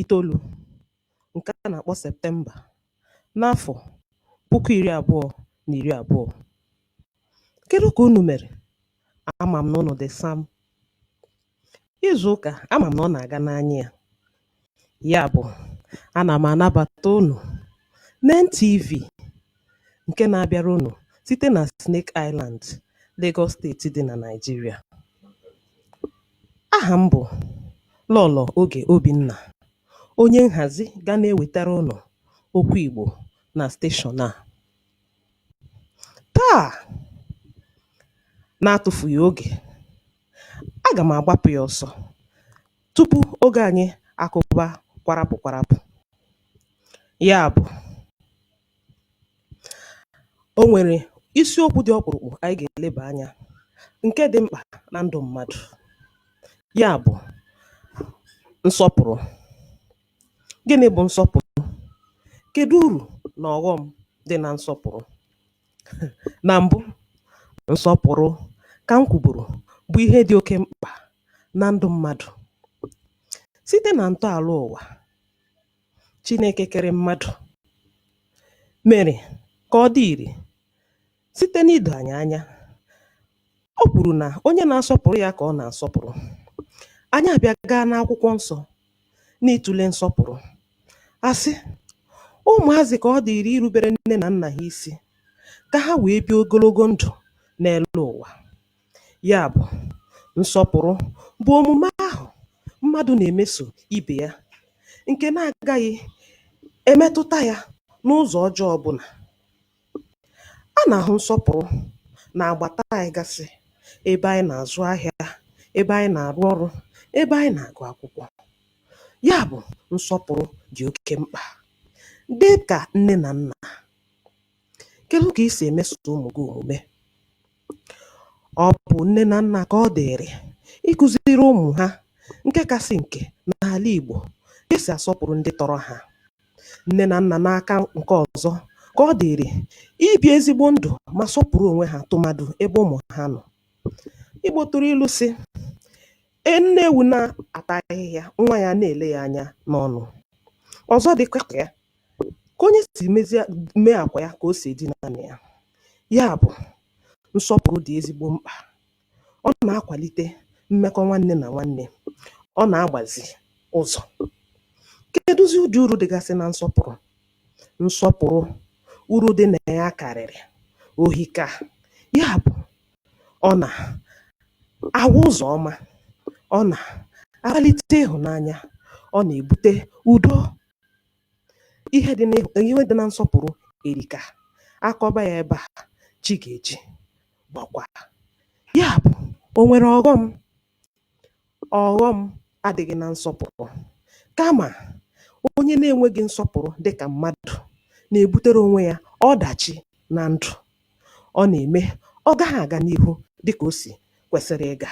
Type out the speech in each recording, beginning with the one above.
itoolu nke a na-akpọ Septemba n'afọ puku iri abụọ na iri abụọ. Kedu ka unu mere? Ama m na unu dị sam. Izu ụka ama m na ọ na-aga n'anya ya. Ya bụ, ana m anabata unu n'NTV ǹke na-abịara unù site nà Snake Island Lagos state dị nà Nigeria ahà m bụ̀ Lọ̀lọ̀ Ogè Obìnnà onye nhàzi ga na-ewètara unù okwu ìgbò nà station à taa na-atụfùghì ogè agà m àgbapụ̇ yȧ ọsọ tupu ogè ànyị àkụ̀ba kwarapụ̀ kwarapụ̀ ya bụ̀ O nwere isiokwu dị ọkpụrụkpụ anyị ga-eleba anya nke dị mkpa na ndụ mmadụ. Ya bụ, nsọpụrụ. Gịnị bụ nsọpụrụ? Kedụ uru na ọghọm dị na nsọpụrụ? Na mbụ, nsọpụrụ ka m kwuburu bụ ihe dị oke mkpa na ndụ mmadụ. Site na ntọala ụwa, Chineke kere mmadụ mere ka ọ dị ire site n'ido anyị anya. O kwuru na onye na-asọpụrụ ya ka ọ na-asọpụrụ. Anyị abịa gaa n'akwụkwọ nsọ n'ịtụle nsọpụrụ. A sị ụmụazị ka ọ dịịrị irubere nne na nna ha isi ka ha wee bie ogologo ndụ n'elu ụwa. Ya bụ, nsọpụrụ bụ omume ahụ mmadụ na-emeso ibe ya nke na-agaghị emetụta ya n'ụzọ ọjọọ ọ bụla. A na-ahụ nsọpụrụ n'agbata anyị gasị, ebe anyị na-azụ ahịa, ebe anyị na-arụ ọrụ, ebe anyị na-agụ akwụkwọ. Ya bụ, nsọpụrụ dị oke mkpa. Dị ka nne na nna, Kedụ ka i si emeso ụmụ gị omume? Ọ bụ nne na nna ka ọ dịịrị ịkụziri ụmụ ha nke kasị nke n'ala Igbo ka e si asọpụrụ ndị tọrọ ha. Nne na nna n'aka nke ọzọ ka ọ dịịrị ibi ezigbo ndụ ma sọpụrụ onwe ha tụmadụ ebe ụmụ ha nọ. Igbo tụrụ ilu sị e nne ewu na-ata ahịhịa nwa ya na-ele ya anya n'ọnụ. Ọzọ dịkwa ka ya ka onye si mezie mee akwa ya ka o si edina na ya ya bụ nsọpụrụ dị ezigbo mkpa ọ na-akwalite mmekọ nwanne na nwanne ọ na-agbazi ụzọ kedụzi ụdị uru dịgasị na nsọpụrụ nsọpụrụ uru dị na ya karịrị o hika ya bụ ọ na-awa ụzọ ọma ọ na-akpalite ịhụnanya ọ na-ebute udo Ihe dị, ihe dị na nsọpụrụ erika. A kọba ya ebe a, chi ga-eji bọkwa. Ya bụ, o nwere ọghọm? Ọghọm adịghị na nsọpụrụ. Kama, onye na-enweghị nsọpụrụ dị ka mmadụ na-ebutere onwe ya ọdachi na ndụ. Ọ na-eme ọ gaghị aga n'ihu dị ka o si kwesịrị ịga.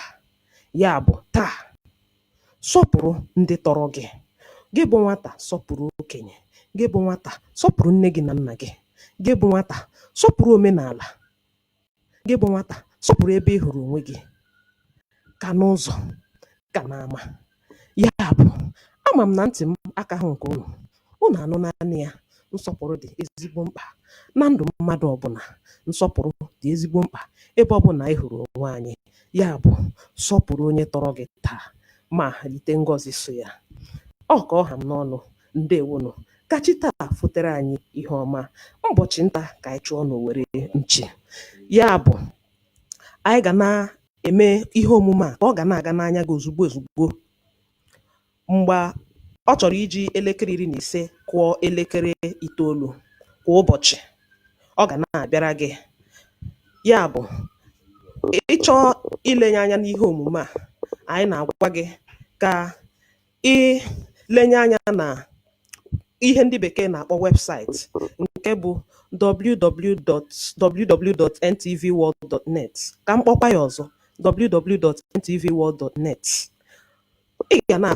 Ya bụ, taa, Sọpụrụ ndị tọrọ gị. Gị bụ nwata, sọpụrụ okenye. Gị bụ nwata, sọpụrụ nne gị na nna gị. Gị bụ nwata, sọpụrụ omenala. Gị bụ nwata, sọpụrụ ebe ị hụrụ onwe gị ka n'ụzọ ka n'ama. Ya bụ, ama m na ntị m akaghị nke unu, Unu anụnanụ ya, nsọpụrụ dị ezigbo mkpa na ndụ mmadụ ọbụla. Nsọpụrụ dị ezigbo mkpa ebe ọbụla anyị hụrụ onwe anyị. Ya bụ, sọpụrụ onye tọrọ gị taa ma rite ngọzi so ya. Ọ ka ọ ha m n'ọnụ, ndewonụ. Ka chi taa fotere anyị ihe ọma. Ụbọchị nta ka anyị chụọ n'owere nchi. Ya bụ, anyị ga na-eme ihe omume a ka ọ ga na-aga n'anya gị ozugbo ozugbo. Mgbe ọ chọrọ iji elekere iri na ise kụọ elekere itoolu kwa ụbọchị, ọ ga na-abịara gị. Ya bụ, ị chọọ ilenye anya n'ihe omume a, anyị na-agwa gị ka i lenye anya na ihe ndị bekee na-akpọ webụsaịtị nke bụ www.ntvworld.net. Ka m kpọkwa ya ọzọ, www.ntvworld.net. Ị ga na